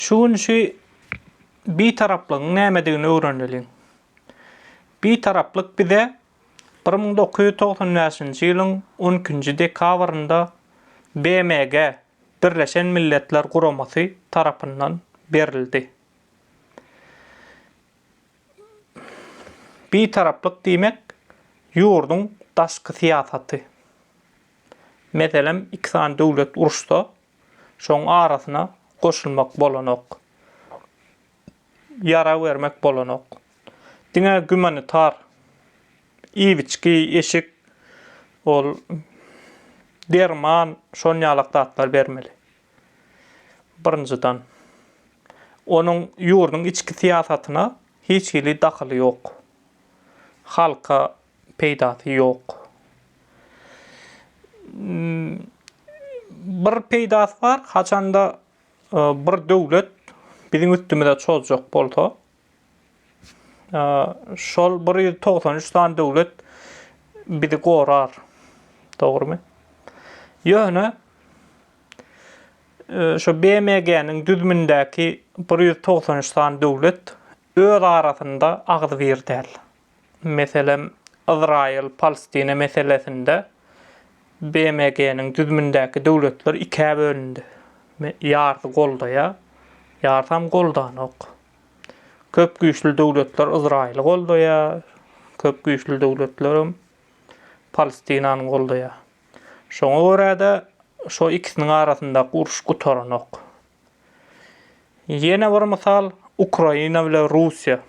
Şu gün şu Bitaraplygyň nämedigini öwreneliň. Bitaraplyk bize bir müň dokuz ýüz togsan bäşinji ýylyň on ikinji dekabrynda BMG, Birleşen Milletler Guramasy, tarapyndan berildi. Bitaraplyk diýmek, ýurduň daşky syýasaty. Meselem, iki sany döwlet uruşsa, Şoň arasyna goşulmak bolanok. Ýara bermek bolanok. Diňe gümanitar iwiçki, eşik, ol derman şon ýalak zatlar bermeli. Birinjiden. Onuň ýurduň içki syýasatyna hiç hili dahyly ýok. Halka peýdasy ýok. Bir peýdasy bar, haçanda e, bir döwlet biziň üstümize çozjak bolsa, e, şol 193 sany döwlet bizi gorar. Dogrumy? Ýöne e, şu BMG-niň düzümindäki 193 sany döwlet öz arasynda agzybir däl. meselem, Yzraýyl-Palestina meselesinde BMG-niň düzümindäki döwletler ikä bölündi. Ýarsy goldaýar, ýarsam goldanok. Köp güýçli döwletler Yzraýyly goldaýar, köp güýçli döwletlerem Palestinany goldaýar. Şoňa görä-de, şo ikisiniň arasyndaky uruş gutaranok. Ýene bir mysal, Ukraina bilen Russiýa.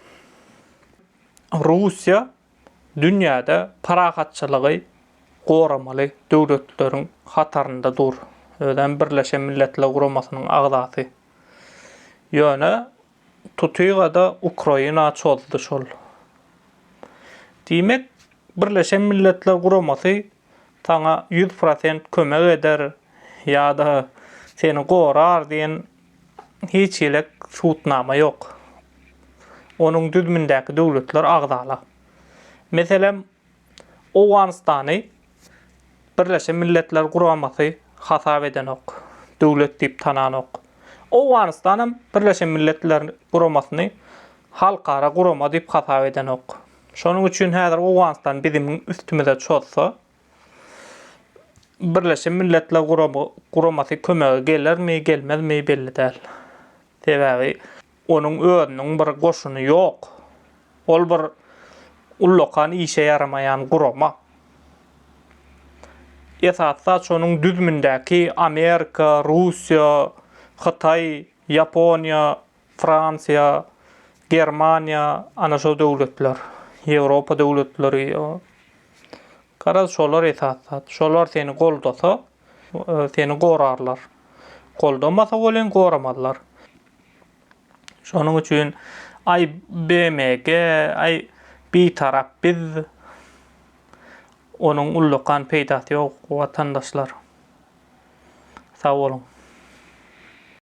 Russiýa dünýäde parahatçylygy goramaly döwletleriň hatarynda dur. Özem Birleşen Milletler Guramasynyň agzasy. Ýöne tutyga-da Ukraina çozdy şol. Diýmek, Birleşen Milletler Guramasy saňa ýüz prosent kömek eder ýa-da seni gorar diýen hiç hili subutnama ýok. Onuň düzümindäki döwletler agzala. Meselem, Owganystany Birleşen Milletler Guramasy hasap edenok, döwlet diýip tananok. Owganystan hem Birleşen Milletler Guramasyny halkara gurama diýip hasap edenok. Şonuň üçin häzir Owganystan biziň üstümize çozsa, Birleşen Milletler Guramasy kömege gelermi, gelmezmi belli däl. Sebäbi onuň özüniň bir goşuny ýok. Ol bir ullakan işe ýaramaýan gurama. Esasy saç onuň düzümindäki Amerika, Russiýa, Hytaý, Ýaponiýa Fransiýa, Germaniýa, ana şol döwletler, Ýewropa döwletleri, garaz şolar esasy zat. Şolar seni goldasa, seni gorarlar. Goldamasa welin goramazlar. Şonuň üçin aý BMG, aý bitarap biz onuň ullakan peýdasy ýok watandaşlar. Sag boluň.